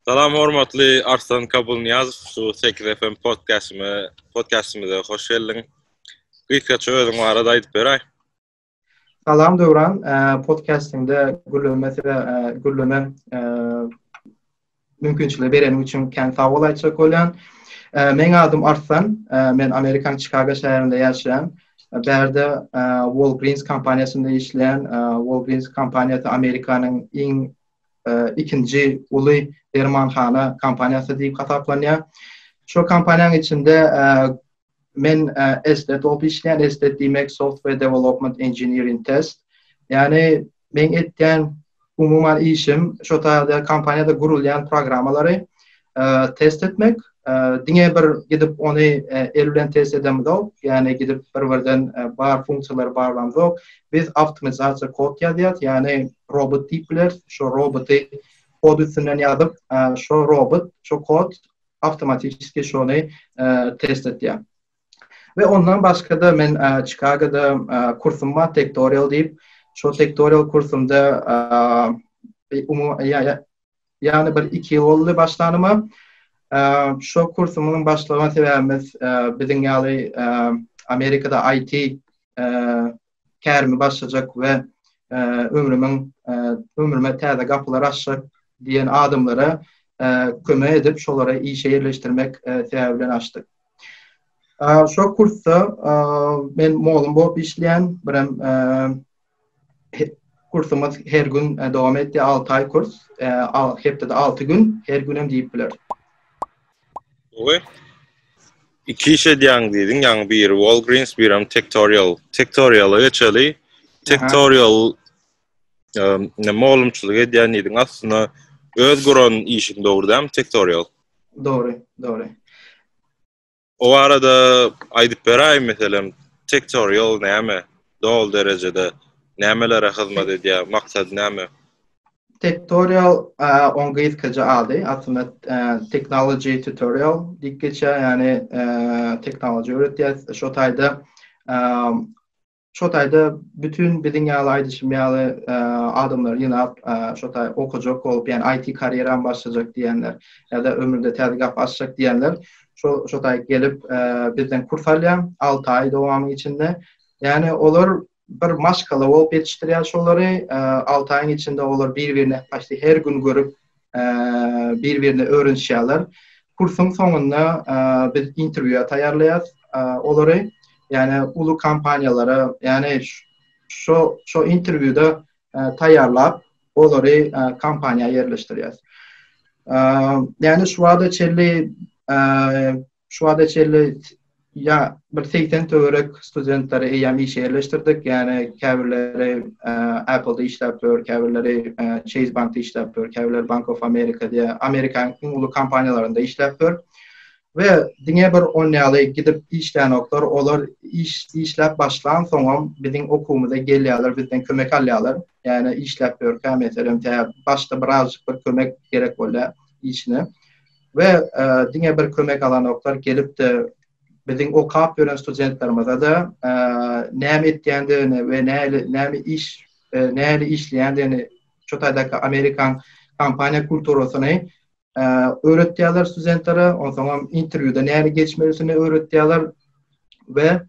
Salam hormatly Arslan Kabulnyýazow, şu 8 FM podkastyma, podkastymyza hoş geldiň. Gysgaça özüň barada aýdyp beräý. Salam Döwran, podkastyňda gürleme size gürleme mümkinçiligi bereniň üçin kän sag bol aýtjak bolýan. Meň adym Arslan, men Amerikan Çikago şäherinde ýaşaýan. Bärde Walgreens kompaniýasynda işleýän. Walgreens kompaniýasy Amerikanyň iň ikinji uly dermanhana kompaniýasy diýip hasaplanýar. Şu kompaniýanyň içinde men estet bolup işleýän, estet diýmek software development engineering test. Ýani men etýän umuman işim şu taýda kompaniýada gurulýan programmalary test etmek. Diňe bir gidip ony el bilen test edemizok, ýani gidip bir-birden bar funksiýalary barlamzok. Biz awtomatizatsiýa kod ýazýas, ýani robot diýip bileris. Şo roboty kod üstünden ýazyp, şo robot, şo kod awtomatiki şony test edýär. We ondan başga-da men Çikagoda kursum bar, tektorial diýip. Şo tektorial kursumda Ýagny bir iki ýyl boldy başlanyma. Şo kursumyň başlaman sebäbimiz biziň ýaly Amerikada IT kärimi başlajak we ömrümiň ömrüme täze gapylar açjak diýen adamlara kömek edip şolary işe ýerleşdirmek sebäbi bilen açdyk. Şo kursda men mugallym bolup işleýän, birem Kursumyz her gün e, dowam etdi. 6 aý kurs, e, hepdede 6 gün, her gün hem diýip biler. Oý. Iki iş edýäň diýdiň, ýaňy biri Walgreens, biri hem Tektorial. Tektoriala geçeli. Tektorial ne mugallymçylyk edýän diýdiň, aslynda öz guran işiň dogry dämi Tektorial? Dogry, dogry. O barada aýdyp beräýin meselem tektorial näme? Dol derejede nämelere hyzmat edýär? Maksady näme? Tektorial on gyzkaja ady aslynda technology tutorial diýip geçýär, ýagny technology öwretýär. Şo taýda Şo taýda bütin biziň ýaly aýdyşym ýaly adamlary ýynap şo taý okajak bolup ýani IT karýeram başlajak diýenler ýa-da ömründe täze gapy açjak diýenler şo şo taý gelip bizden kurs alýar alty aý dowamy içinde ýani olar bir maşgala bolup ýetişdirýär şolary alty aýyň içinde olar bir-birine paçti her gün görüp bir-birini öwrenişýärler. Kursuň soňunda biz interwýua taýýarlaýarys olary, ýani uly kompaniýalara, ýani şu şu interwýuda taýýarlap, olary kompaniýa ýerleşdirýäris. Ýani şu wagta çenli Şu wagta çenli ýa bir segsen töwerek studentleri eýýäm işe ýerleşdirdik. Ýagny käbirleri Apple-da işläp dur, käbirleri Chase Bank-da işläp dur, käbirleri Bank of America diýen Amerikanyň iň uly kompaniýalarynda işläp dur. We diňe bir on ýaly gidip işlänoklar, olar iş işläp başlansoňam biziň okuwymyza gelýärler, bizden kömek alýarlar. Ýagny işläp durka, meselem, tä başda birazjyk bir kömek gerek bolýar işine. We diňe bir kömek alanoklar gelipde biziň okap ýören studentlerimize-de näme etýändigini we näli näme iş näli işleýändigini şu taýdaky amerikan kompaniýa kulturasyny öwretýärler studentlere, onsoňam interwýuda näli geçmelisini öwretýärler we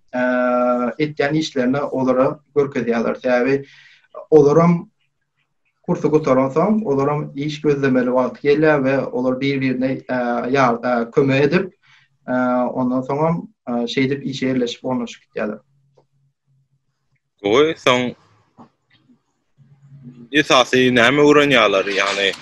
etýän işlerini olara görkezýärler. Sebäbi olaram Kursy gutaransoň, olaram iş gözlemeli wagty gelýär we olar bir-birine kömek edip, ondan soňam şeýdip işe ýerleşip ornaşyp gitýärler. Gowy, soň esasy näme öwrenýärler? Ýagny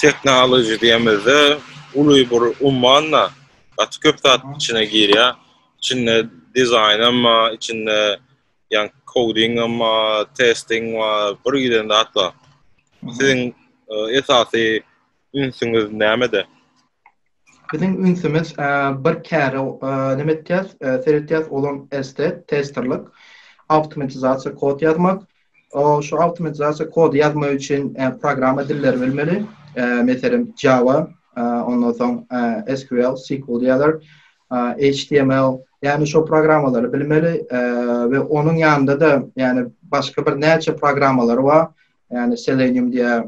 tehnologiýa diýemizde uly bir ummanda gaty köp zat içine girýär. Içinde dizaýnam bar, içinde Yani coding ama testing var bir giden zat var. Sizin e, esasy ünsüňiz nämede? Biziň ünsümiz e, bir käre e, näme etýäs? E, Seretýäs olam ST testerlik, awtomatizasiýa kod ýazmak. O şu awtomatizasiýa kod ýazmak üçin e, programma dilleri bilmeli. E, Meselem Java, e, ondan soň e, SQL, SQL diýerler. HTML, ýagny şo programmalary bilmeli we onuň ýanynda-da, ýagny başga bir näçe programmalary bar, ýagny Selenium diýä,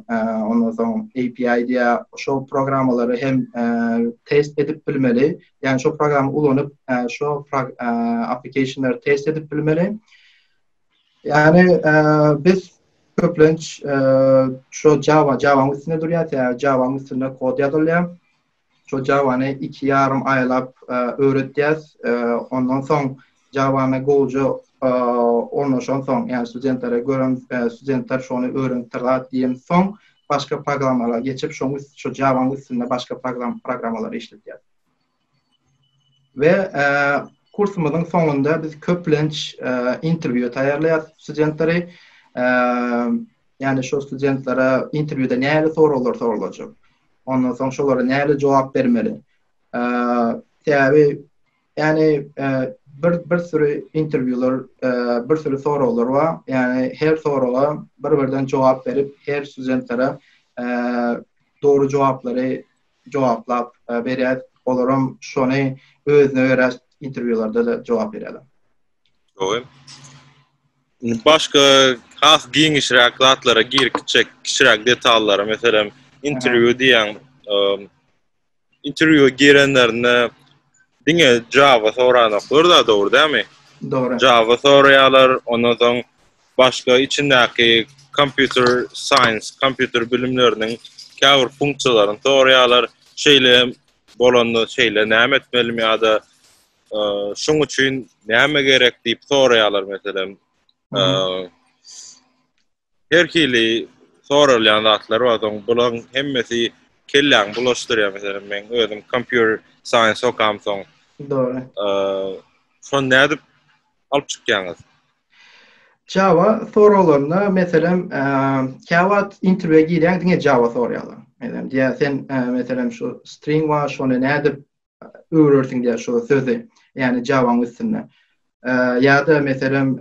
ondan soň API diýä, şo programmalary hem test edip bilmeli, ýagny şo programma ulanyp, şo application-lary test edip bilmeli. Ýagny biz köplenç şo Java, Java-nyň üstünde durýar, sebäbi Java-nyň üstünde kod ýazylýar. Şo Java-ny iki ýarym aýlap öwretýäs. Ondan soň Java-na gowja ornaşansoň, ýagny studentlere görem, studentler şony öwrenipdir zat diýensoň, başga programmalara geçip, şoň üst, şo Java-nyň üstünde başga programmalary işledýäs. We kursumyzyň soňunda biz köplenç interwýu taýýarlaýas studentleri. Ýagny şu studentlere interwýuda nähili soraglar soralajak? Ondan soň şolara nähili jogap bermeli? Sebäbi ýagny bir bir süri interwýular, bir süri soraglar bar. Ýagny her soraga bir-birden jogap berip, her studentlere dogry jogaplary jogaplap berýär. Olaram şony özüne görä interwýularda-da jogap berýärler. Gowy. Başga has giňişräk zatlara girip gitjek kiçiräk detallara, meselem, interwýu diýen interwýu girenlerinde diňe Java soranoklar da dogry dämi? Dogry. Java soraýarlar, ondan soň başga içindäki kompýuter science, kompýuter bilimleriniň käbir funksiýalaryny soraýarlar. Şeýle bolanda şeýle näme etmelimi ýa-da şuň üçin näme gerek diýip soraýarlar meselem. Her hili soralýan zatlar bar, soň bulaň hemmesi kelläňi bulaşdyrýar. Meselem, men özüm kompýuter science okam soň. Dogry. Şon nädip alyp çykýaňyz? Java soraglarynda meselem, käwagt interwýa girýäň, diňe Java soraýarlar. Meselem, diýýär, sen meselem şu string bar, şony nädip öwrersiň diýýär şu sözi. Ýani Java-nyň üstünde. Ýa-da meselem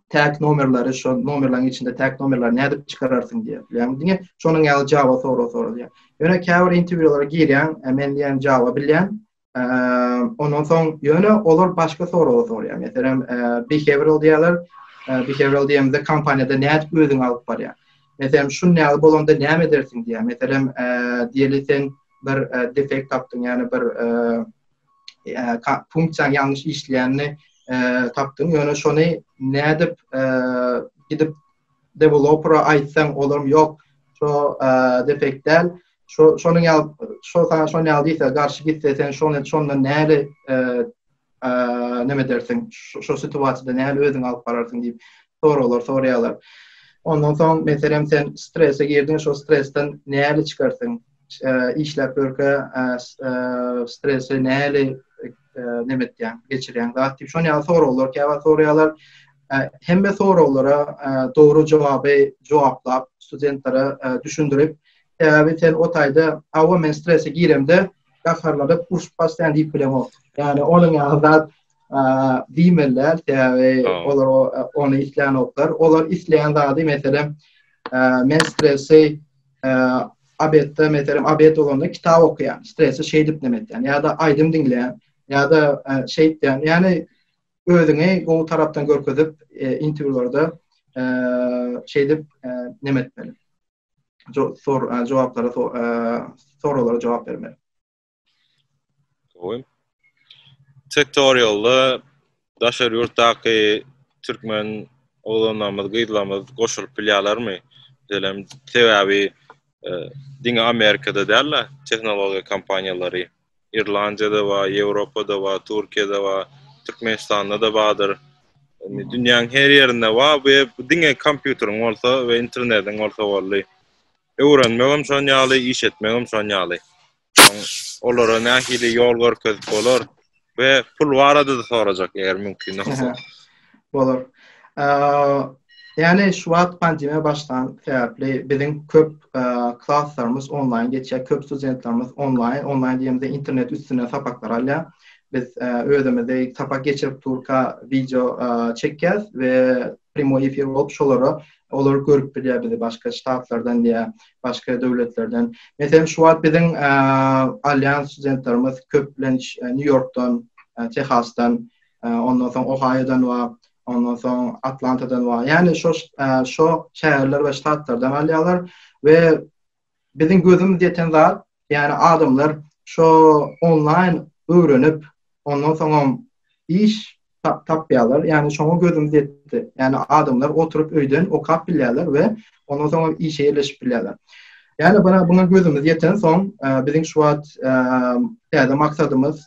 tag nomerleri şu nomerleriň içinde tag nomerleri nädip çykararsyň diýip. Ýani diňe şonuň ýaly Java sorag soralýar. Ýöne käbir interwýulara girýän, men diýen Java bilýän. Ondan soň ýöne olar başga sorag sorýar. Meselem behavioral diýýärler. Behavioral diýende kompaniýada nädip özüňi alyp barýar. Meselem şuny ýaly bolanda näme edersiň diýýär. Meselem diýeli sen bir defekt tapdyň, ýagny bir funksiýaň ýalňyş işleýänini tapdyň, ýöne şony nädip gidip developera aýtsaň, olam ýok, şo defekt däl, şo şonuň ýaly, şo saňa şonuň ýaly diýse, garşy gitse, sen şony şondan näli näme edersiň, şo situasiýada nähili özüňi alyp bararsyň diýip soraglar soraýarlar. Ondan soň meselem sen strese girdiň, şo stresden nähili çykarsyň? Işläp ýörkä stresi nähili näme etýäň, geçirýäň? Zat diýip şon ýaly soraglar käbä soraýarlar. Hemme soraglara dogry jogaby jogaplap, studentlere düşündirip, sebäbi sen o taýda hawa men strese giremde, gaharlanyp urşup başlaýan diýip bilemok. Ýagny onuň ýaly zat diýmeliler, sebäbi olar ony isleýänoklar. Olar isleýän zady, meselem, men stresi abetde, meselem, abet bolanda kitap okuýan, stresi şeýdip neme etýän, ýa-da aýdym diňleýän, ýa-da şeýdýän. Ýagny özüňi gowy tarapdan görkezip, interwýularda şeýdip neme etmeli. jogaplara soraglara jogap bermeli. Gowy. Tektorialda daşary ýurtdaky türkmen oglanlarymyz, gyzlarymyz goşulyp bilýärlermi? Diýelim, sebäbi e, diňe Amerikada däl-de tehnologiýa kompaniýalary Irlandiýada bar, Ýewropada bar, Türkiýede bar, Türkmenistanda-da bardyr. Indi dünýäň her ýerinde bar, bu ýer diňe kompýuteriň bolsa we internetiň bolsa boldy. Öwrenmegem şon ýaly, iş etmegem şon ýaly. Olara nähili ýol görkezip bolar we pul barada-da sorajak eger mümkin bolsa. Bolar. Ýani şu wagt pandemiýa başlan sebäpli biziň köp klaslarymyz onlaýn geçýär, köp studentlerimiz onlaýn, onlaýn diýemizde internet üstünden sapaklar alýar. Biz özümizi sapak geçirip durka wideo çekýäs we primoý efir bolup şolara olar görüp bilýär bizi başga ştatlardan ýa başga döwletlerden. Meselem şu wagt biziň alýan studentlerimiz köplenç Nýu-Ýorkdan, Tehasdan, ondan soň Ohaýodan bar, ondan soň Atlantadan bar. Ýani şo şo şäherler we ştatlardan alýarlar we biziň gözümiz ýeten zat, ýani adamlar şo onlaýn öwrenip, ondan soňam iş tapýarlar. Ýani şoňa gözümiz ýetdi. Ýani adamlar oturyp öýden okap bilýärler we Ondan soň işe ýerleşip bilýärler. Ýa-da bana buna gözümiz ýeten soň, biziň şu wagt täze maksadymyz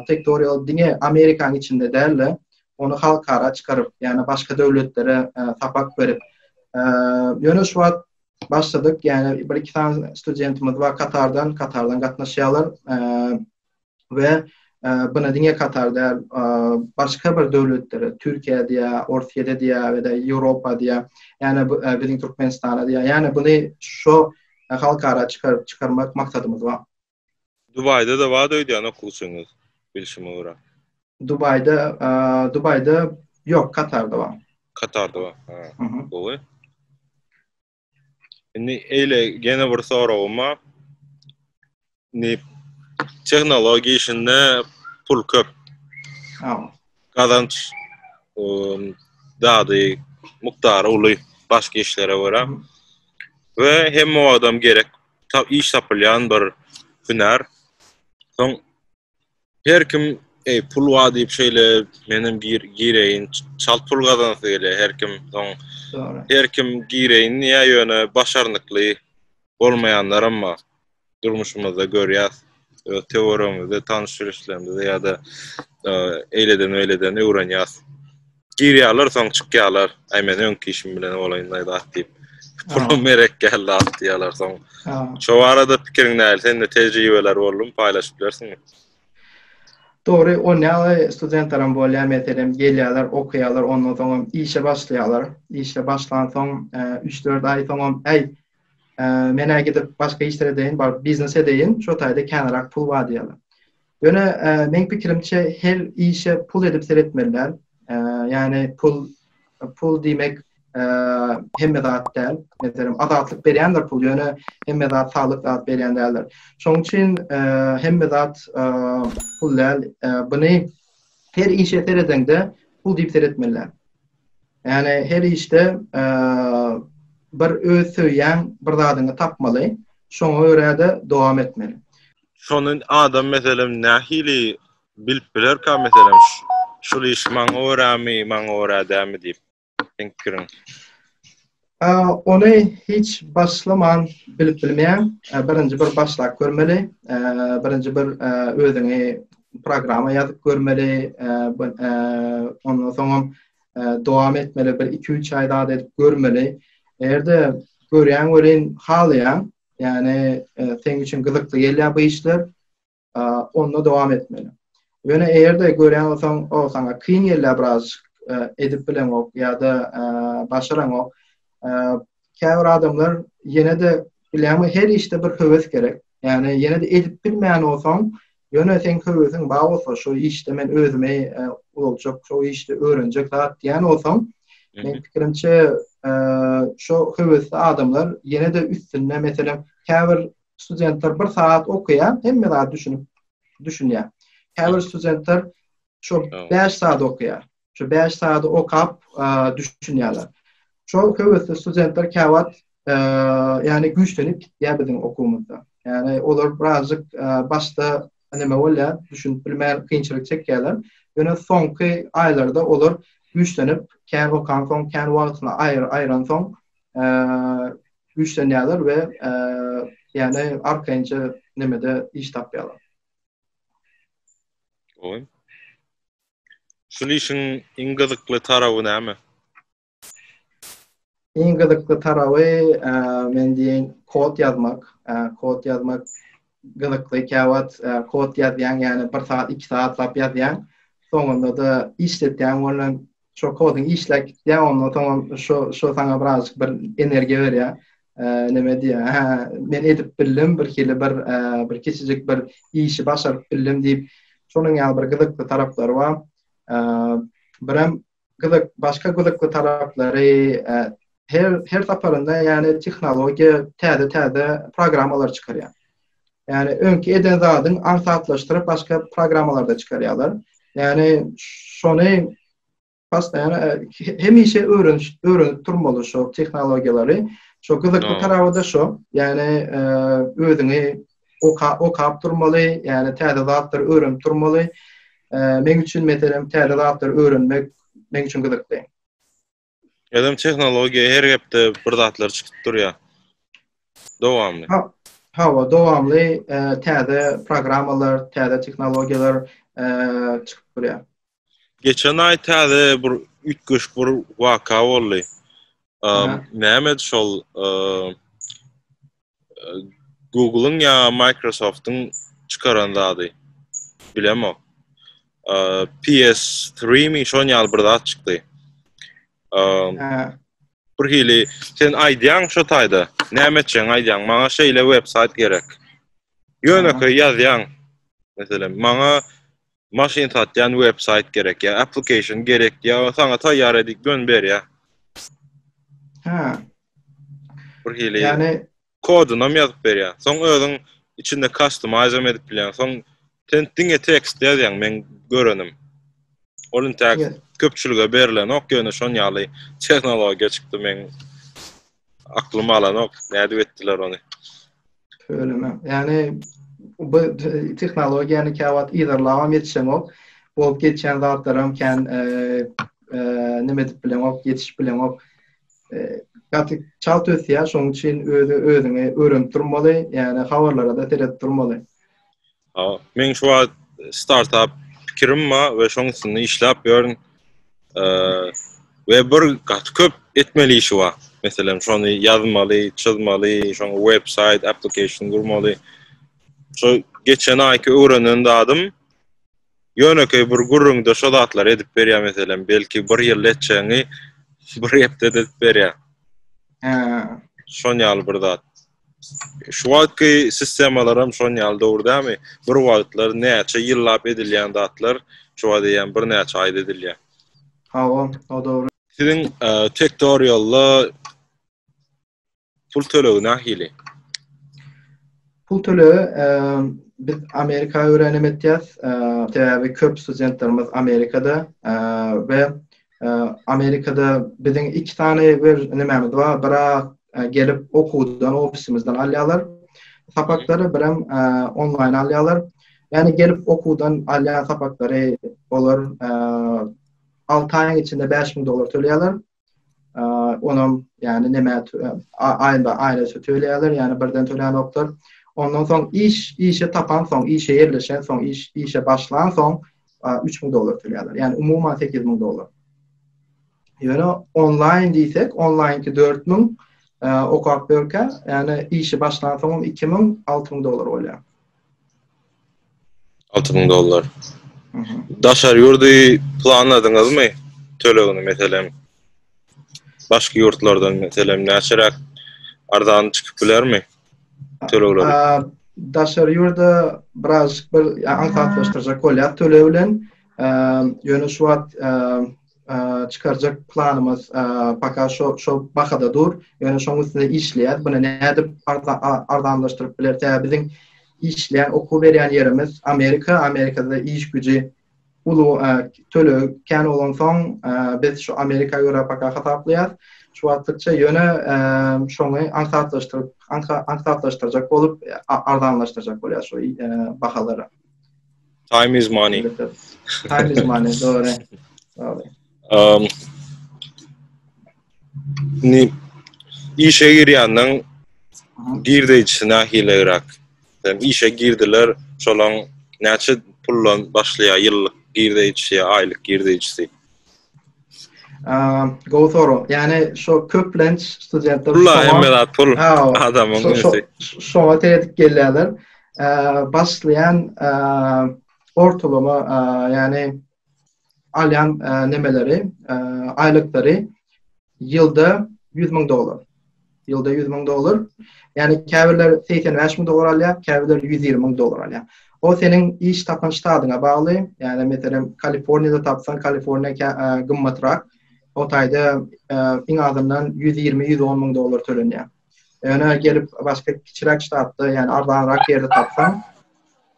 Tektorial diňe Amerikanyň içinde däl-de, ony halkara çykaryp, ýa-da başga döwletlere sapak berip, ýöne şu wagt başladyk, ýa-da bir-iki sany studentimiz bar Katardan, Katardan gatnaşýarlar. we buna diňe Katar däl, başga bir döwletlere, Türkiýä diýä, Orsýete diýä we de Ýewropa diýä, ýa-ni biziň Türkmenistana diýä, ýa-ni buny şo halkara çykaryp çykarmak maksadymyz bar. Dubaýda-da bar öýdýän okuwçyňyz, bilşime görä. Dubaýda, Dubaýda ýok, Katarda bar. Katarda bar, ha. Gowy. Indi eýle gene bir soragym bar. Indi tehnologiýa işinde pul köp. Gazanç dady mukdary uly başga işlere görä. We hemme adam gerek iş tapylýan bir hünär. Soň Her kim ey pul wa diýip şeýle menem gir gireýin çalt pul gazansy gele her kim soň her kim gireýin diýä ýöne başarnykly bolmaýanlar hem bar durmuşymyzda görýäs öz töweregimizde tanyş bilişlerimizde ýa-da e, eýleden beýleden öwrenýäs Girýärler, soň çykýarlar. Aý men öňki işim bilen olaýynlaýda at diýip. Pulum merek geldi at diýýärler soň. Şo barada pikiriň näl? Sende tejribeler boldumy, paýlaşyp bilersiňmi? Dogry, o näme studentlerim bolýar, meselem, gelýärler, okaýarlar, ondan soň hem işe başlaýarlar. Işe başlan soň, üç-dört aý soň hem, äý, men-ä gidip başga işler edeýin, baryp biznes edeýin, şo taýda känrak pul bar diýýärler. Ýöne meň pikirimçe her işe pul edip seretmeliler. Ýani pul pul diýmek hemme zat däl. Meselem azatlyk berýänler pul ýöne hemme zat saglyk zat berýän däldir. Şoň üçin hemme zat pul däl. Buny her işe seredende pul diýip seretmeliler. Ýani her işde bir öz söýýän bir zadyňy tapmaly. Şoňa görä-de dowam etmeli. Şony adam meselem nähili bilip bilerka meselem şul iş maňa göremi, maňa göre dämi diýip. Seň pikiriň? Ony hiç başlaman bilip bilmeýäň. Birinji bir başlap görmeli. Birinji bir özüňi programa ýazyp görmeli. Ondan soňam dowam etmeli bir iki-üç aý zat edip görmeli. Eger-de görýäň welin halaýaň, Ýani seň üçin gyzykly gelýär bu işler. Onda dowam etmeli. Ýöne eýerde görýän bolsaň, o saňa kyn gelýär biraz edip bileňok ýa-da başaraňok. Käbir adamlar ýene-de bileňmi her işde bir höwes gerek. Ýani ýene-de edip bilmeýän bolsaň, Ýöne seň höwesiň bar bolsa şo işde men özümi uzaljak şo işde öwrenjek zat diýen bolsaň men pikirimçe şo höwesli adamlar ýene-de üstünde meselem käbir studentler bir saat okaýar hemme zat düşünip düşünýär. Käbir studentler şo 5 saat okaýar. şu bäş sagady okap düşünýärler. Şol höwesli studentler käwagt ýani güýçlenip gitýär biziň okuwymyzda. Ýani olar birazjyk başda neme bolýar, düşünip bilmän kynçylyk çekýärler. Ýöne soňky aýlarda olar güýçlenip, kän okan soň, kän wagtyny aýyran soň, güýçlenýärler we ýani arkaýynja nemede iş tapýarlar. Gowy. Şul işiň iň gyzykly tarawy näme? Iň gyzykly tarawy, men diýen, kod ýazmak. Kod ýazmak gyzykly. Käwagt kod ýazýaň, ýagny bir sagat, iki sagatlap ýazýaň. Soňunda-da işletýäň ony. Şo kodyň işläp gitýär, ondan soň şo saňa biraz bir energiýa berýär. näme diýýär, hä, men edip bildim, birhili bir bir kiçijik bir işi başaryp bildim diýip, şonuň ýaly bir gyzykly taraplary bar. Birem gyzyk, başga gyzykly taraplary her her saparynda ýaly tehnologiýa täze-täze programmalar çykarýar. Ýani öňki eden zadyň aňsatlaşdyryp başga programmalarda çykarýarlar. Ýani şony Postaýan hemişe öwreniş öwrenip durmaly şu tehnologiýalary. Şu gyzykly tarawy da şu. Ýani özüňi oka okap durmaly, ýani täze zatlary öwrenip durmaly. Meň üçin meselem täze zatlary öwrenmek meň üçin gyzykly. Özüm tehnologiýa her hepde bir zatlar çykyp durýar. Dowamly. Hawa, dowamly täze programmalar, täze tehnologiýalar çykyp durýar. Geçen ay täze bir ütgeşik bir waka boldy. Näme şol Google'yň ya Microsoft'un çykaran zady. Bilemok. PS3 mi şon ýal bir zat çykdy. Bir hili sen aýdýaň şu taýda. Näme etjäň aýdýaň? Maňa şeýle websayt gerek. Ýöne köý ýazýaň. Meselem, maňa Maşyn satýan web saýt gerek ýa application gerek ýa saňa taýýar edip dön berýär. Hä. Bir hili. Ýani kodunam ýazyp berýär. Soň özüň içinde customize edip bilýän. Soň sen diňe tekst ýazýaň men görenim. Ol intäk köpçülige berilenok ýöne şon ýaly tehnologiýa çykdy men. Aklym alanok, nädip etdiler ony? Töleme. Ýani bu tehnologiýany käwagt yzarlabam ýetişeňok. Bolup geçýän zatlaram kän e, e, nime edip bileňok, ýetişip bileňok. E, gaty çalt ösýär, şonuň üçin özi özüňi öwrenip durmaly, ýani habarlara-da seredip durmaly. Ha, men şu wagt startup pikirim bar we şoň üstünde işläp ýörün. Eee, we bir gaty köp etmeli işi bar. Meselem, şony ýazmaly, çyzmaly, şoň websaýt, application gurmaly. Şu geçen aýky öwrenen zadym ýönekeý bir gürrüňde şu zatlary edip berýär meselem, belki bir ýyl etjegini bir hepdede edip berýär. He. Şon ýaly bir zat. Şu wagtky sistemalar hem şon ýaly dogry dämi? Bir wagtlar näçe ýyllap edilýän zatlar şu wagt eýýäm bir näçe aýda edilýär. Hawa, o dogry. Siziň tektorialda pul tölegi nähili? Pul tölegi biz Amerika örän etýäs. Sebäbi köp studentlerimiz Amerikada we Amerikada biziň iki sany bir nimämiz bar, bira gelip okuwdan ofisimizden alýarlar. Sapaklary birem onlaýn alýarlar. Ýani gelip okuwdan alýan sapaklary olar 6 aýyň içinde 5000 dollar töleýärler. Onam ýani näme aýynda aýra töleýärler, ýani birden töleýän oklar. Ondan soň iş, işe tapan soň, işe ýerleşen soň, iş, işe başlan soň üç müň dollar töleýärler. Ýani umuman sekiz müň dollar. Ýöne onlaýn diýsek, onlaýnki dört müň okap berkä, ýani işi başlan soňam iki müň, alty müň dollar bolýar. Alty müň dollar. Daşar ýurdy planladyňyzmy? Tölegini meselem. Başga ýurtlardan meselem näçeräk arzan çykyp bilermi? tölegleri? Daşary ýurda biraz bir aňsatlaşdyrjak bolýar töleg bilen. Ýöne şu wagt çykarjak planymyz paka şo şo bahada dur. Ýöne şoň üstünde işleýär. Buna nädip arzanlaşdyryp biler? Tä biziň işleýän okuw berýän ýerimiz Amerika, Amerikada iş güji uly töleg kän bolansoň biz şu Amerika görä paka hasaplaýas şu wagtlykça ýöne şony aňsatlaşdyryp aňsatlaşdyrjak bolup arzanlaşdyrjak bolýas şu bahalary. Time is money. Time is money, dogry. Dogry. Um, Ni işe girýänden girdi içine hilegrak. Sen işe girdiler, şolaň näçe pullan başlaýar ýyllyk girdi içi, aýlyk girdi içi. Go soru. Yani şu köplenç studentler Pula hemmeler pul adamın ünsi. Şoňa tedik gelýärler. Başlaýan ortalama yani alýan nemeleri, aýlyklary ýylda 100 müň dollar. Ýylda 100 müň dollar. Ýani käbirler 85 müň dollar alýar, käbirler 120 müň dollar alýar. O seniň iş tapan ştadyňa bagly. Ýani meselem Kaliforniýada tapsan, Kaliforniýa gymmatrak. O taýda iň azyndan 120-110 müň dollar tölenýär. Öne gelip başka kiçiräk ştatda yani arzanrak yerde tapsan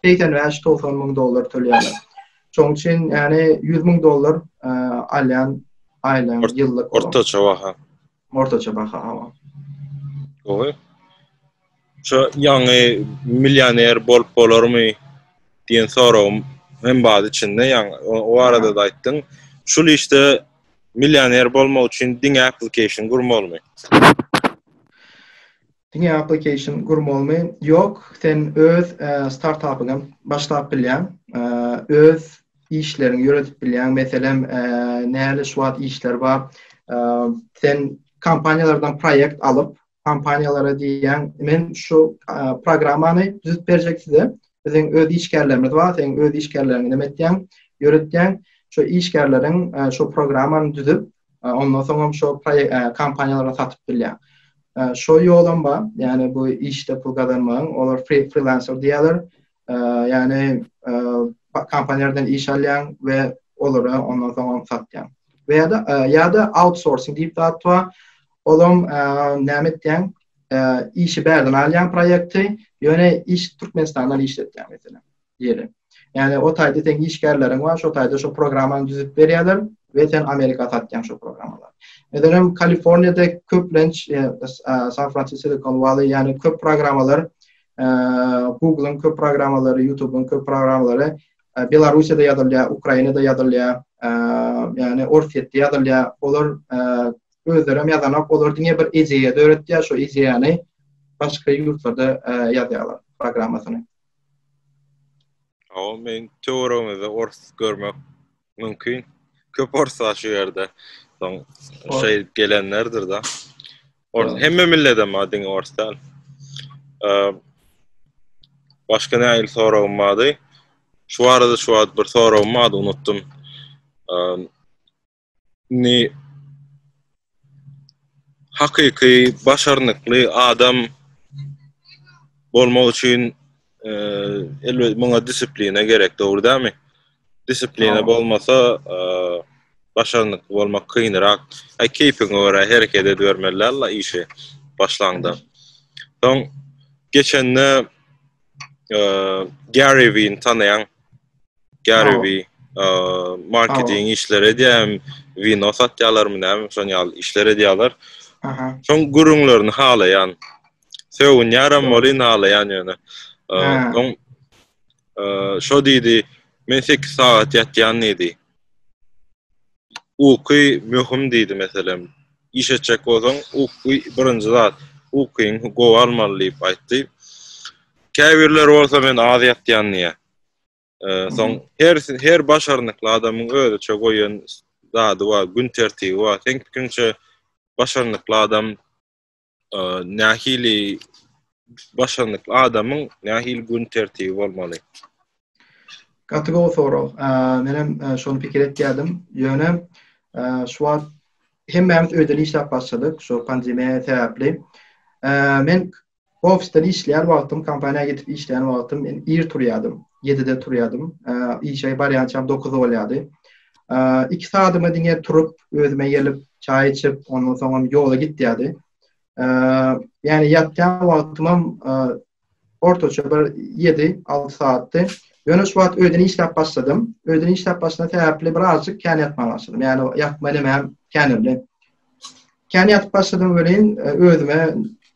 85-90 müň dollar tölýärler. Şoň üçin yani 100 müň dollar e, alýan aýlan Ort, ýyllyk. Ortaça baha. Ortaça baha ama. Gowy. Şu ýaňy millioner bolup bolarmy diýen soragym hem baz içinde ýaňy o arada da aýtdyň. Şul işte Millioner bolmak üçin diňe application gurmalymy? Diňe application gurmalymy? Ýok, sen öz startapyňam başlap bilýäň. Öz işleriňi ýöredip bilýäň. Meselem, näle şu wagt işler bar. Sen kompaniýalardan proýekt alyp, kompaniýalara diýýän, men şu programmany düzüp berjek size. Biziň öz işgärlerimiz bar, sen öz işgärleriňi näme etýäň, ýöretýäň. Şu işgärleriň şu programmany düzüp, ondan soň hem şu kompaniýalara satyp bilýäň. Şu ýolam bar, ýani bu işde pul gazanmagyň, olar freelancer diýýärler. Ýagny kompaniýalardan iş alýaň we olara ondan soň ony satýaň. We ýa-da ýa-da outsourcing diýip zat bar. Olam näme etýäň? Işi bärden alýaň proýekti, ýöne iş Türkmenistandan işletýäň meselem. Ýeri. Ýagny o taýda seň işgärleriň bar, şo taýda şo programmany düzüp berýärler we sen Amerika satýaň şo programmalary. Meselem Kaliforniýada köplenç San Francisco, Silikon Walley, ýagny köp programmalar Google-yň köp programmalary, YouTube-yň köp programmalary Belarussiýada ýazylýar, Ukrainada ýazylýar, ýagny Orsýetde ýazylýar. Olar özleri hem ýazanok, olar diňe bir ideýa döretýär, şu ideýany başga ýurtlarda ýazýarlar programmasyny. Aw, men töweregimizde ors görmek mümkin. Köp ors bar şu ýerde. Soň şey gelenlerdir da. Ors hem millete madin orsdan. Eee Başka ne ayıl soragym madı. Şu arada şu ad bir soragym madı unuttum. Eee ni hakyky başarnykly adam bolmak üçin elbet muňa disiplina gerek dogry dämi disiplina bolmasa başarnykly bolmak kynrak e keýpiňe görä hereket edibermeli alla işi başlaňda soň geçende Gary Vee tanaýaň Gary Sag ol. Vee, eee, marketing işleri edýär, wino satýarlarmy näme, şon ýaly işler edýärler. Aha. Şoň gürrüňlerini halaýan. Sögünýärem Ýok. welin halaýan ýöne. Eee, Ha. Soň eee, şo diýdi, men sekiz sagat ýatýan diýdi. Uky möhüm diýdi meselem. Iş etjek bolsaň, uky birinji zat. Ukyňy gowy almaly diýip aýtdy. Käbirleri bolsa men az ýatýan diýýär. Soň her her başarnykly adamyň özüçe goýan zady bar, gün tertibi bar. Sen pikiriňçe başarnykly adam nähili başarnykly adamyň nähili gün tertibi bolmaly? Gaty gowy sorag. Men hem şony pikir etýärdim. Ýöne şu wagt hemmämiz öýden işläp başladyk şu pandemiýa sebäpli. Men Ofisden işleýän wagtym, kompaniýa gidip işleýän wagtym men ir turýardym. Ýedide turýardym. Işe barýançam dokuz bolýardy. Iki sagadyma diňe turup, özüme gelip, çaý içip, ondan soňam ýola gitýärdi. Ýagny ýatýan wagtymam ortaça bir ýedi, alty sagatdy. Ýöne şu wagt öýden işläp başladym. Öýden işläp başlan sebäpli birazjyk kän ýatmaga başladym. Ýagny ýatma nemem känirdi. Kän ýatyp başladym welin, özüme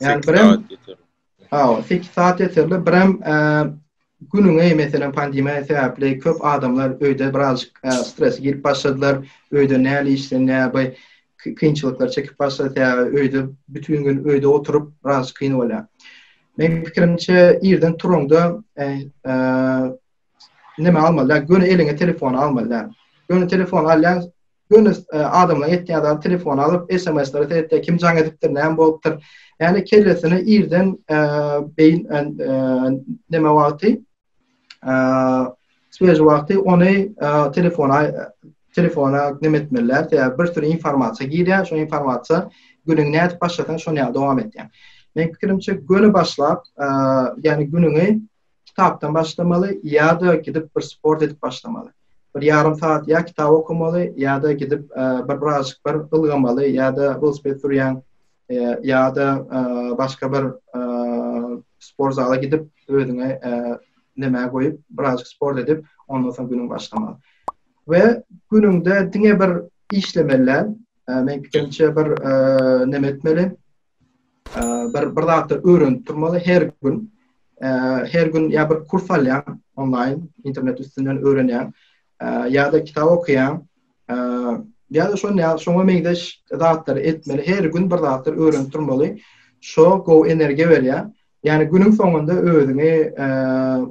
Yani bir hem Aw, 8 saat yeterli. Bir hem e, günüňe meselem pandemiýa sebäpli köp adamlar öýde birazjyk e, stres girip başladylar. Öýde näli işden näbi kynçylyklar çekip başlady. Sebäbi öýde bütün gün öýde oturyp birazjyk kyn bolýar. Men pikirimçe irden turanda e, e, näme almaly däl, göni eliňe telefony almaly däl. Göni telefony alýaň, göni e, adamlaryň etýän zady telefony alyp, SMS-lere seretýär, kim jaň edipdir, näme bolupdyr. Ýani kellesini irden e, beýin e, näme wagty svež wagty ony telefona telefona näme etmeliler, sebäbi bir sürü informasiýa girýär, şu informasiýa günüňi nädip başlasaň şony ýa dowam etýär. Men pikirimçe göni başlap, ýani günüňi kitapdan başlamaly ýa-da gidip bir sport edip başlamaly. Bir ýarym saat ýa kitap okamaly ýa-da gidip bir birazjyk bir ylgamaly ýa-da welosiped sürýäň ýa-da başga bir sport zala gidip özüňe näme goýup birazjyk sport edip ondan soň günüňi başlamaly. We günüňde diňe bir işlemeli däl. Men pikirimçe bir näme etmeli? bir bir zatlar öwrenip durmaly her gün her gün ýa bir kurs alýaň onlaýn internet üstünden öwrenýäň ýa-da kitap okaýaň ýa-da şonda ýa şoňa meňzeş zatlary etmeli her gün bir zatlar öwrenip durmaly şo gowy energiýa berýär ýani günüň soňunda özüňi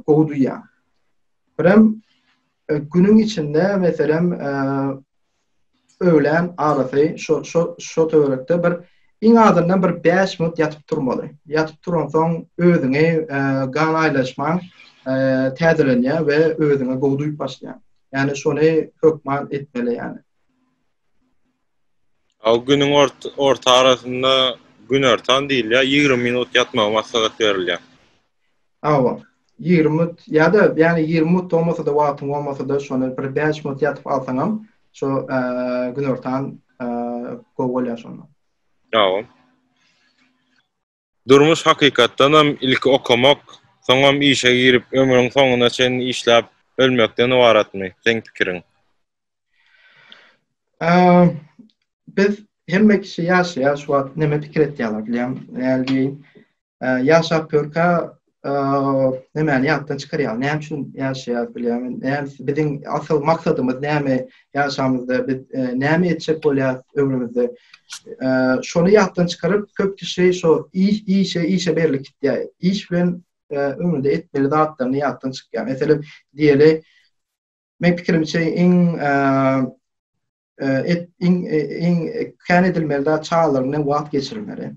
gowy duýýaň birem Günüň içinde meselem öwlän arasy şo şo şo töwerekde bir iň azyndan bir bäş minut ýatyp turmaly. Ýatyp turansoň özüňi gan aýlaşmaň täzelenýär we özüňe gowy duýup başlaýaň. Ýani şony hökman etmeli ýani. A günüň orta arasynda günortan diýilýär, ýigrimi minut ýatmagy maslahat berilýär. Hawa, ýigrimi minut ýa-da ýäni ýigrimi minut bolmasa-da wagtyň bolmasa-da şony bir bäş minut ýatyp alsaňam şo günortan gowy bolýar şonda. Hawa. Durmuş hakykatdanam ilki okamak, soňam işe girip ömrüň soňuna çenli işläp ölmekden ybaratmy seň pikiriň? Biz hemme kişi ýaşaýar şu wagt neme pikir etýärler bilýäňmi? Hälki Ýaşap körkä nämäni ýatdan çykarýar? Näme üçin ýaşaýar bilýärmi? Näme biziň asyl maksadymyz näme? Ýaşamyzda biz näme etjek bolýar ömrümizde? Şony ýatdan çykaryp, köp kişi şo iş, işe, işe berlip gitýär. Iş bilen ömründe etmeli zatlaryny ýatdan çykýar. Meselem, diýeli, men pikirimçe iň et iň iň kän edilmeli zat çagalaryň bilen wagt geçirmeli.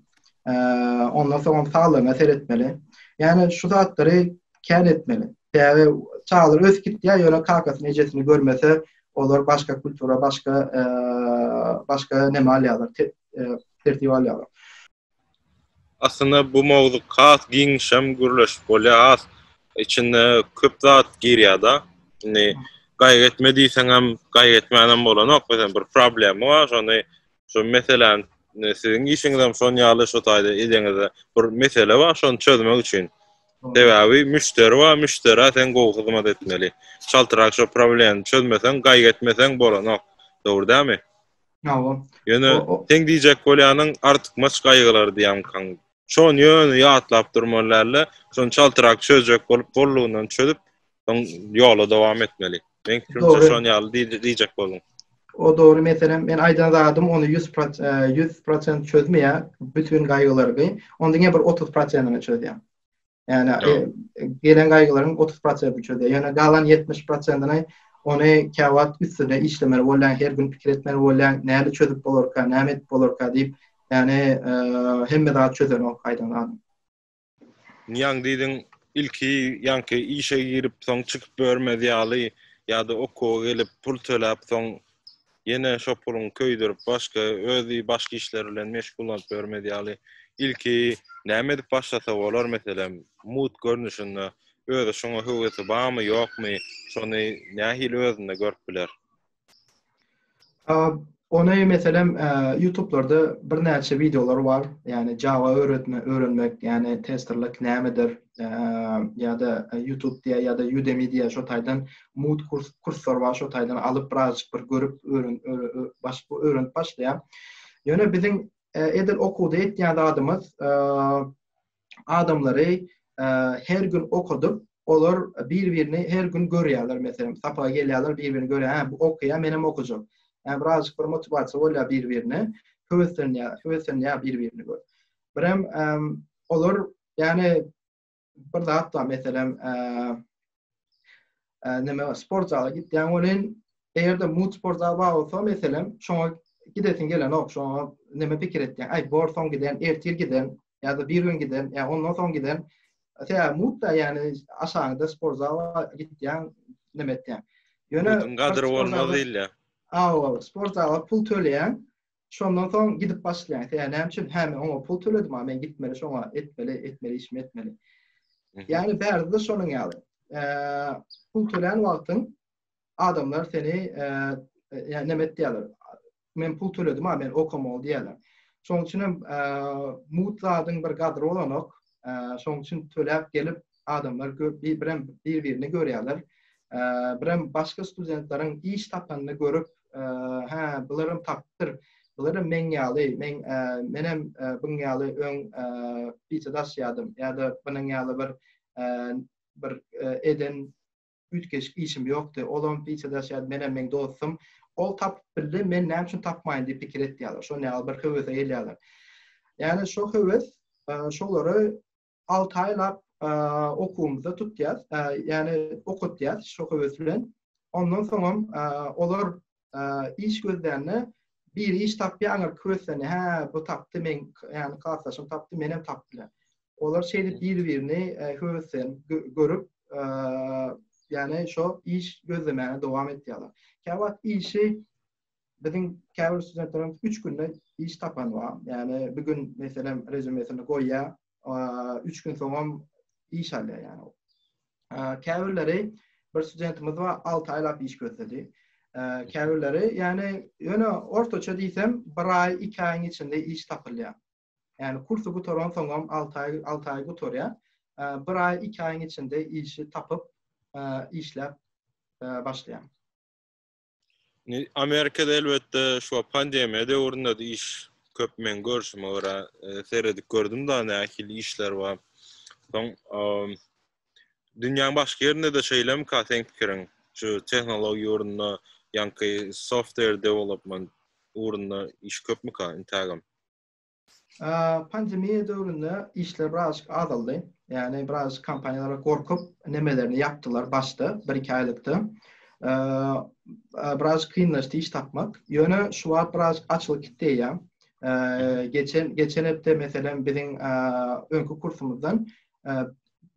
Ondan soň saglygyna seretmeli. Ýani şu zatlary kän etmeli. Täze çagalar ösüp gitýär, ýöne kakasyny, ejesini görmese, olar başga kultura, başga başga näme alýarlar, tertip alýarlar. Aslynda bu mowzuk has giňişem gürleşip bolýar, has içinde köp zat girýär-de. Indi gaýgy etme diýseňem, gaýgy etmänem bolanok, meselem bir problema bar, şony şu meseläni siziň işiňizem şon ýaly şu taýda edeňizde bir mesele bar, şony çözmek üçin. Sebäbi müşderi bar, müşderä sen gowy hyzmat etmeli. Çaltrak şu problemy çözmeseň, gaýgy etmeseň bolanok. Dogry dälmi? Hawa. Ýöne seň diýjek bolýanyň artykmaç gaýgylar diýýämkaň. Şony ýöne ýatlap durmaly dälde, şony çaltrak çözjek bolup boldugyndan çözüp, soň ýola dowam etmeli. Meň pikirimçe şony ýaly diýjek bolduň. O dogry meselem men aýdan zadym ony ýüz ýüz prosent çözmeýär bütin gaýgylargy. Ony diňe bir otuz prosenini çözýär. Yani e, gelen gaýgylaryň 30 prosenti çözýär. Yani galan 70 prosentini ony käwagt üstüne işlemeli bolýan, her gün pikir etmeli bolýan, näli çözüp bolarka, näme edip bolarka diýip, yani e, hemme zat çözen o gaýdan adam. Niýaň diýdiň, ilki ýanky işe girip, soň çykyp görmez ýaly ýa-da okuwa gelip pul töläp, soň Ýene şo puluň köýdürip başga özi başga işler bilen meşgullanyp ýörmez ýaly ilki näme edip başlasa bolar meselem mut görnüşinde özi şoňa höwesi bamy ýokmy şony nähili özünde görüp biler. Ony meselem ýutublarda birnäçe wideolar bar ýani java öwretmek öwrenmek ýani testerlik nämedir ýada ýutub diýä ýada ýudemi diýä şo taýdan mut kurs kurslar bar şo taýdan alyp birazjyk bir görüp öwren başyp öwrenip başlaýar. Ýöne biziň e, edil okuwda etýän zadymyz e, adamlary e, her gün okadyp olar bir-birini her gün görýärler meselem sapaga gelýärler bir-birini görýär ha bu okaýar men hem okajak. Yani birazcık bir motivasiýa bolýar bir-birine höweslenýär höweslenýär bir-birini görüp. Birem olar yani bir zat bar, meselem, näme sport zala gitýän welin, eger-de mut sport zala bar bolsa, meselem, şoňa gidesiň gelenok, şoňa näme pikir etýän? Aý, bor soň giden, ertir giden, ýa-da bir gün giden, ýa ondan soň giden. Tä mut da, ýagny aşagyňda sport zala gitýän, näme etýän? Ýöne gadyr bolmaz diýilýär. Awa, sport zala pul töleýän, Şondan soň gidip başlaýaň. Sen näme üçin? Hä, men oňa pul töledim, a men gitmeli şoňa, etmeli, etmeli işimi etmeli. Ýagny bärde şonuň ýaly. Pul tölän wagtyň adamlar seni ýa näme etdiler? Men pul töledim, a men okamaly diýerler. Şoň üçin hem mut zadyň bir gadry bolanok. Şoň üçin töläp gelip adamlar köp, birem bir-birini görýärler. Birem başga studentleriň iş tapanyny görüp, hä, bularam tapypdyr. Bular meň ýaly, men menem buň ýaly öň pizza daşýardym ýa-da bunuň ýaly bir bir eden üýtgeşik işim ýokdy. Olam pizza daşýardy, menem meň dostum. Ol tapyp bildi, men näme üçin tapmaýyn diýip pikir etýärler. Şonuň ýaly bir höwese gelýärler. Ýani şo höwes şolary Alty aýlap okuwymyzda tutýas, ýagny okatýas şo höwes bilen. Ondan soňam olar iş gözlände biri iş tapýar, aňyrky höweslerini, hä, bu tapdy, men, ýagny klasdaşym tapdy, menem tapdylar. Olar şeýdip bir-birini höweslenip görüp, ýagny şo iş gözlemäge dowam etýärler. Käwagt işi Biziň käbir studentlerimiz üç günde iş tapan bar. Ýagny bir gün meselem rezümesini goýýar, üç gün soňam iş alýar ýagny. Käbirleri bir studentimiz bar, 6 aýlap iş gözledi. Käbirleri ýagny ýöne ortaça diýsem 1 aý, 2 aýyň içinde iş tapylýar. Ýagny kursy gutaran soňam 6 aý, 6 aý gutarýar. 1 aý, 2 aýyň içinde işi tapyp, işläp başlaýar. Amerikada elbetde şu pandemiýa döwründe de iş köp men görşüme görä e, seredip gördüm da nähili işler bar. Soň dünýäň başga ýerinde de şeýlemi ka seň pikiriň? Şu tehnologiýa ýurdunda ýanky software development ugrunda iş köpmi ka intagam? Pandemiýa döwründe işler birazajyk azaldy. Ýagny birazajyk kompaniýalar gorkup, nemelerini ýapdylar başda, bir-iki aýlykda. Birazajyk kynlaşdy iş tapmak. Ýöne şu wagt birazajyk açylyp gitdi eýýäm. Geçen geçen hepde meselem biziň öňki kursumyzdan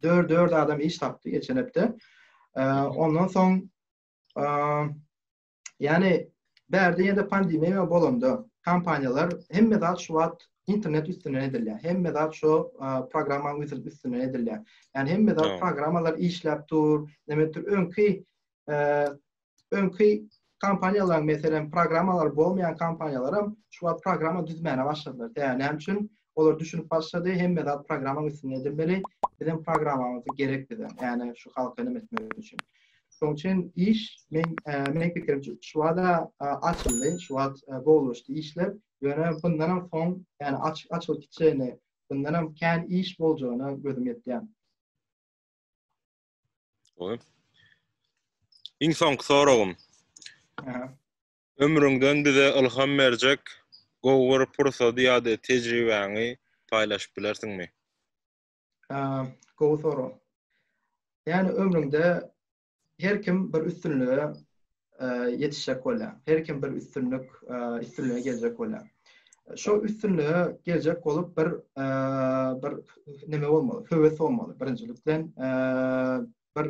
dört dört adam iş tapdy geçen hepde. Ondan soň Ýani bärde ýene pandemiýa bolanda kompaniýalar hemme zat şu wagt internet üstünden edilýär. Hemme zat şu programma üstünden edilýär. Ýani hemme zat programmalar işläp dur. Demek, öňki öňki kompaniýalar meselem programmalar bolmaýan kompaniýalar hem şu wagt programma düzmäne başladylar. Ýani näme üçin? Olar düşünip başlady, hemme zat programmaň üstünde edilmeli. Biziň programmamyz gerek bize. Ýani şu halka näme etmek üçin. Şoň üçin iş men men pikirimçe şu wada açyldy, şu wagt gowulaşdy işler. Ýöne bundan hem soň, ýani aç açylyp gitjegini, bundan hem kän iş boljagyna gözüm ýetýär. Oý. Iň soňky soragym. Aha. Ömrüňden bize ylham berjek gowy bir pursady ýa-da tejribäňi paýlaşyp bilersiňmi? Gowy sorag. Ýani ömrüňde her kim bir üstünlige ýetişjek bolýar. Her kim bir üstünlik, üstünlige geljek bolýar. Şo üstünlige geljek bolup bir bir neme bolmaly, höwes bolmaly. Birinjilikden bir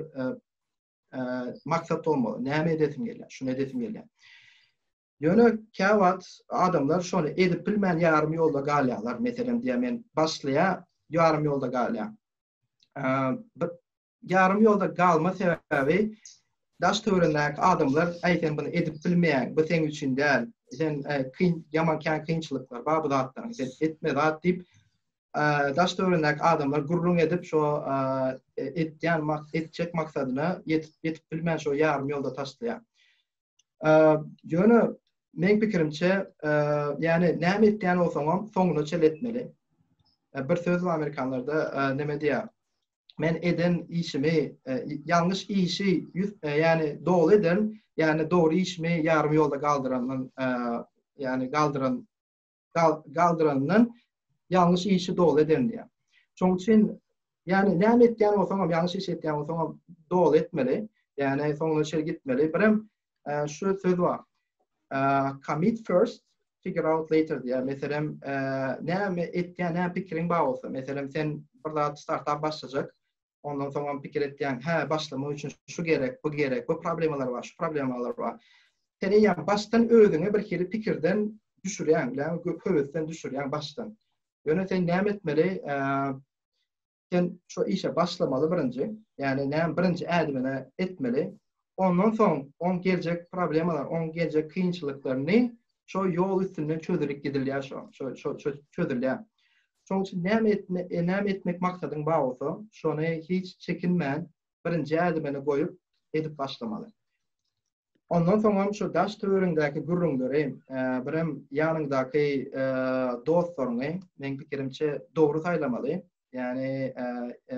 maksat bolmaly. Näme edesim gelýär? Şuny edesim gelýär. Ýöne käwagt adamlar şony edip bilmän ýarym ýolda galýarlar. Meselem diýä men başlaýa ýarym ýolda galýar. Bir ýarym ýolda galma sebäbi daş töwerindäki adamlar aý sen bunu edip bilmeýän, bu seň üçin däl. Sen kyn ýaman kän kynçylyklar bar bu zatlaryň. Sen etme zat diýip daş töweregindäki adamlar gürrüň edip, şo etýän etjek maksadyna ýetip ýetip bilmän şo ýarym ýolda taşlaýar. Ýöne meň pikirimçe, ýani näme etýän bolsaňam soňuna çel etmeli. Bir söz bar amerikanlarda, näme diýýär? Men eden işimi, ýalňyş işi ýüz, ýani doly ederin, ýani dogry işimi ýarym ýolda galdyrandan, ýani galdyran galdyrandan ýalňyş işi doly eden diýýär. Şonuň üçin ýani näme etýän bolsaňam, ýalňyş iş etýän bolsaňam doly etmeli. Ýani soňuna çenli gitmeli. Birem e, şu söz bar. E, commit first, figure out later diýýär. Meselem, e, näme etýän, näme pikiriň bar bolsa, meselem sen bir zat startup başlajak, Ondan soňam pikir etýän, hä, başlamak üçin şu gerek, bu gerek, bu problemalar bar, şu problemalar bar. Seni ýa başdan özüňe bir hili pikirden düşürýän, ýa höwesden düşürýän başdan. Ýöne sen näme etmeli? Sen şu işe başlamaly birinji. Ýani näme birinji ädimini etmeli? ondan soň oň geljek problemalar, oň geljek kynçylyklaryny şo ýol üstünden çözülip gidilýär şo, şo, şo, şo çözülýär. Şoň üçin näme etme, e, näme etmek maksadyň bar bolsa, şony hiç çekinmän birinji ädimini goýup edip başlamaly. Ondan soňam şu daş-töweregiňdäki gürrüňleri, e, birem ýanyňdaky e, dostlaryňy, meň pikirimçe, dogry saýlamaly. Ýagny, e, e,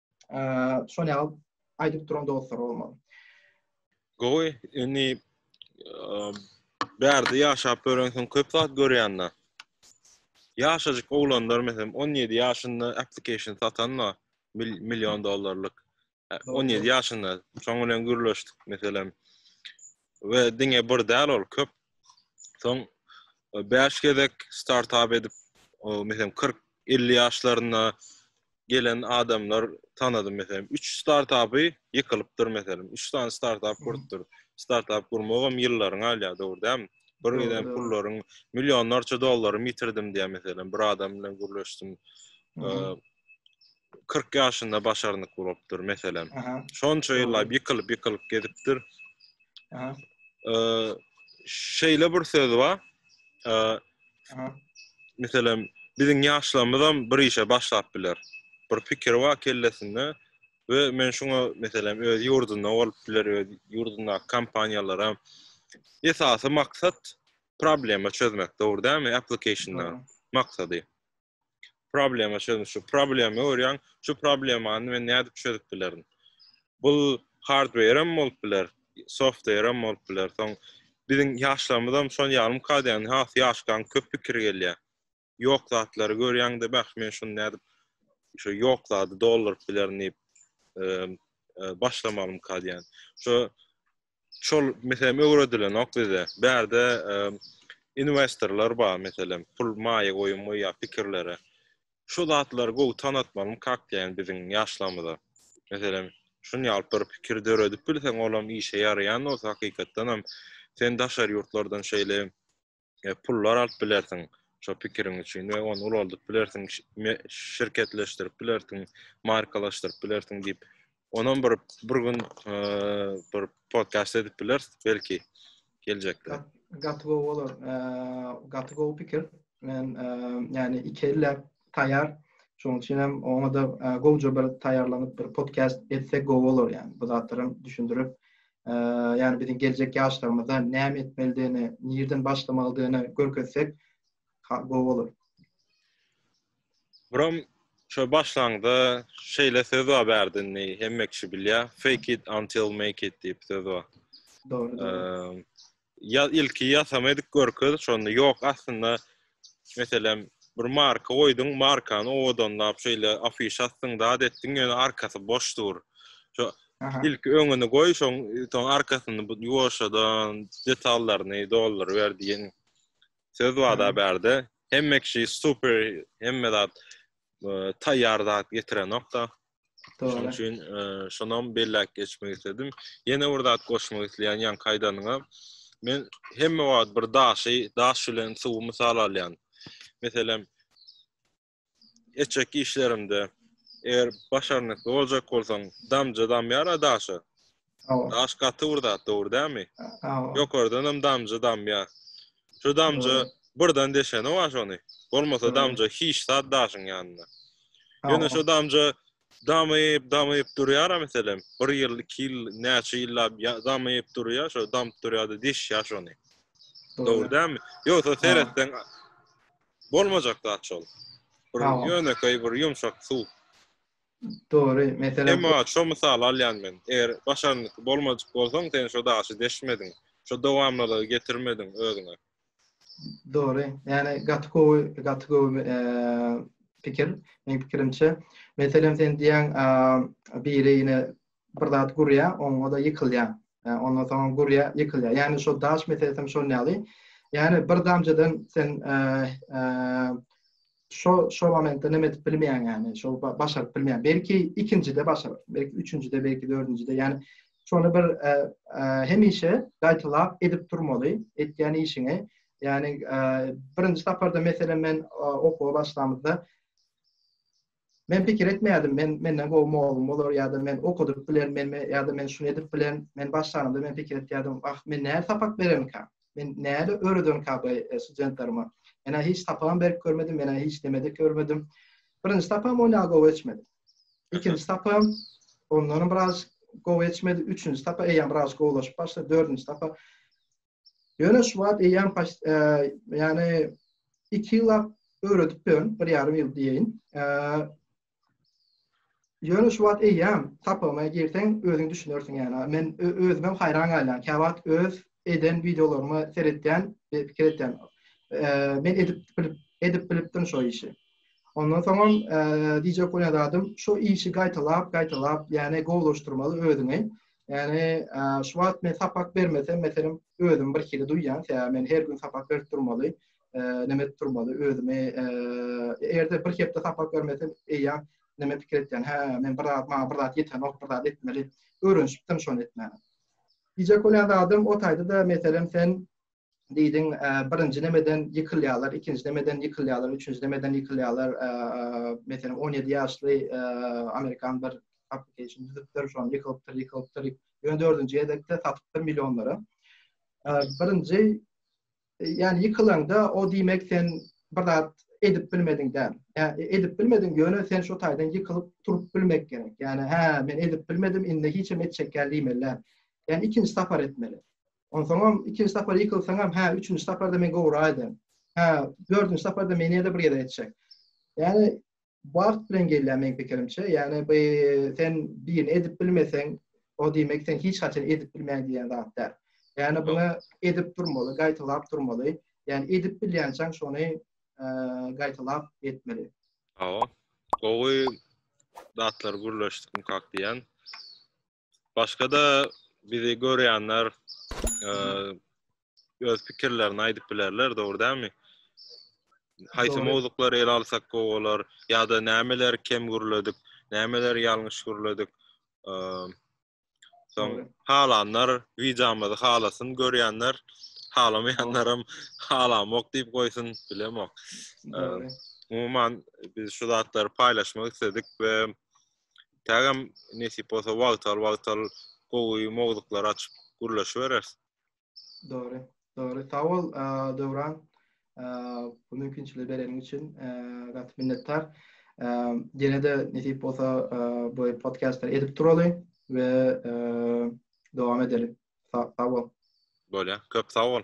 Şony alyp aýdyp duran dostlar bolmaly. Gowy, indi bärde ýaşap örensiň köp zat görýände. Ýaşajyk oglanlar meselem 17 ýaşynda application satanma million dollarlyk. 17 ýaşynda şoň bilen gürleşdik meselem. we diňe bir däl ol köp. Soň 5 e, gezek startap edip, o meselem 40 50 ýaşlarynda gelen adamlar tanadym meselem 3 startapy ýykylypdyr meselem 3 sany startap gurupdyr. Startap gurmagam ýyllaryň alýar, dogry dämi? Bir giden pullaryň millionlarça dollary ýitirdim diýen meselem bir adam bilen gürleşdim. 40 ýaşynda başarnyk gurupdyr meselem. Şonça ýyllap ýykylyp ýykylyp gezipdir. Şeýle bir söz bar. Meselem, biziň ýaşlarymyz hem bir işe başlap biler. Bir pikir bar kellesinde we men şuňa meselem öz ýurdunda bolup biler, öz ýurdunda kompaniýalar hem esasy maksat problema çözmek, dogry dälmi? Application-da maksady. problema çözüm şu problema görýän şu problemany men nädip çözüp bilerin bu hardware hem bolup biler software hem bolup biler soň biziň ýaşlarymyz hem şol ýalym kadýany has ýaşkan köp pikir gelýär ýok zatlary görýän de bäh men şuny nädip şu ýok zady dolduryp bilerin diýip başlamalym kadýan şu şol meselem öwredilenok bize. Bärde e, investorlar bar meselem, pul maýa goýum goýýar pikirlere. Şu zatlary gowy tanatmalyň kak diýen biziň ýaşlarymyza. Meselem, şun ýaly bir pikir döredip bilseň, olam işe ýaraýan bolsa hakykatdan hem sen daşary ýurtlardan şeýle e, pullar alyp bilersiň şo pikiriň üçin we ony ulaldyp bilersiň, şirketleşdirip bilersiň, markalaşdyryp bilersiň diýip. Onam bir bir gün e, bir podcast edip bileris belki geljekde. Gaty gowy bolar. E, gaty gowy pikir. Men e, yani iki elle taýar. Şonuň üçin hem oňa-da gowja bir taýýarlanyp bir podcast etsek gowy bolar ýaly. Bu zatlary hem düşündirip, ýagny biziň geljek ýaşlarymyza näme etmelidigini, nireden başlamalydygyny görkezsek gowy bolar. Buram şo başlangyda şeýle söz bar bärdini hemme kişi bilýär. Fake it until make it diýip söz bar. Dogry. ýa ilki ýasama edip görkez şonda ýok aslynda meselem bir marka goýduň markany owadanlap şeýle afişa asdyň zat etdiň ýöne arkasy boş dur şo ilki öňüni goý şoň soň arkasyny ýuwaşjadan detallaryny doldur ber diýen söz wada bärde hemme kişi super hemme zat e, taýýar zat getirenokda Şonuň üçin şonam belläp geçmek isledim. Ýene bir zat goşmak isleýän ýan kaýdanyňa. Men hemme wagt bir daşy, daş bilen suwy mysal alýan. Meselem, etjek işlerimde eger başarnykly boljak bolsaň, damja damýar daşa. Daş gaty bir zat, dogry dälmi? Ýokardan hem damja damýa. Şu damja birden deşene waş ony. Bolmasa damja hiç zat daşyň ýanynda. Ýöne şu damja damyp, damyp durýar-a meselem, bir ýyl, iki ýyl, näçe ýyllap damyp durýar, şo damyp durýar-da deşýär şony. Dogry dälmi? Ýogsa seretseň bolmajak zat şol. Bir ýönekeý, bir ýumşak suw. Dogry, meselem. Emma şo mysaly alýan men. Eger başarnyk bolmajyk bolsaň, sen şo daşy deşmediň. Şo dowamlylygy getirmediň özüňe. Dogry. Ýani gaty gowy, gaty gowy pikir. Meň pikirimçe, meselem sen diýýäň, biri ine bir zat gurýar, oňa-da ýykylýar. Ondan soň gurýar, ýykylýar. Ýagny şo daş meselesi hem şonuň ýaly. Ýagny bir damjadan sen şo şo momentde näme edip bilmeýäň ýagny, şo başaryp bilmeýäň. Belki ikinjide başaryp, belki üçünjide, belki dördünjide. Ýagny şony bir hemişe gaýtalap edip durmaly, etýän işiňi. Ýagny birinji saparda meselem men okuwa başlamyzda Men pikir etmeýärdim, men menden gowy mugallym bolar ýa-da men okadyp bilerin, men ýa-da men şuny edip bilerin. Men başlanymda men pikir etýärdim, wah, men nädip sapak berermikä? Men näde öwredermikä bu studentlerime? Men-ä hiç sapagam berip görmedim, men-ä hiç neme-de görmedim. Birinji sapagym ony gowy geçmedi. Ikinji sapagym ondan biraz gowy geçmedi. Üçünji sapak eýýäm biraz gowulaşyp başlady. Dördünji sapak Ýöne şu wagt eýýäm ýagny 2 ýyla öwredipdirin, bir ýarym ýyl diýeýin. Ýöne şu wagt eýýäm tapyma girseň özüň düşünersiň ýagny. Men özüm hem haýran galýan. Käwagt öz eden wideolarymy seretýän, pikir etýän. Men edip bilip edip bilipdim şu işi. Ondan soňam DJ Kunyadadym şu işi gaýtalap, gaýtalap, ýagny gowulaşdyrmaly özüňi. Ýani şu wagt men sapak bermesem meselem özüm bir hili duýýan sebäbi men her gün sapak berip durmaly näme edip durmaly özümi erde bir hepde sapak bermesem eýýam näme pikir etýän hä men bir zat maňa bir zat ýetenok bir zat etmeli öwrenişipdim şony etmäne Gije kölen adam o taýda-da meselem sen diýdiň, birinji nemeden ýykylýarlar, ikinji nemeden ýykylýarlar, üçünji nemeden ýykylýarlar, meselem, on ýedi ýaşly amerikan bir application düzüpdir, şony ýykylypdyr, ýykylypdyr, ýöne dördünji gezekde satypdyr millionlara. Birinji, ýani ýykylanda, o diýmek sen bir zat edip bilmediň däl. Ýani edip bilmediň, ýöne sen şo taýdan ýykylyp turup bilmek gerek. Ýani, hä, men edip bilmedim, indi hiçem etjek däl diýmeli däl. Ýani ikinji sapar etmeli. Onsoňam ikinji sapar ýykylsaňam, hä, üçünji saparda men gowraýdy. Hä, dördünji saparda men ýene-de bir gezek etjek. Ýani wagt bilen gelýär meň pikirimçe. Ýani bu sen birini edip bilmeseň, o diýmek sen hiç haçan edip bilmeýän diýen zat däl. Ýani buna edip durmaly, gaýtalap durmaly. Ýani edip bilýänçäň şony gaýtalap etmeli. Hawa. Gowy zatlar gürleşdik mukak diýen. Başga-da bizi görýänler e, öz pikirlerini aýdyp bilerler, dogry dälmi? Haýsy Dogry. mowzuklary ele alsak gowy bolar ýa-da nämeler kem gürledik, nämeler ýalňyş gürledik. E, Soň Dogry. halanlar wideomyzy halasyn, görýänler halamaýanlaram halamok diýip goýsun, bilemok. Dogry. Umuman biz şu zatlary paýlaşmak isledik we Kägem nesip bolsa wagtal wagtal gowy mowzuklar açyp gürleşibereris. Dogry, dogry. Sag bol, Döwran. Bu mümkinçiligi bereniň üçin gaty minnetdar. Ýene-de nesip bolsa bu podkastlar edip duraly we dowam edeli. Sag bol. Bolýar. Köp sag bol.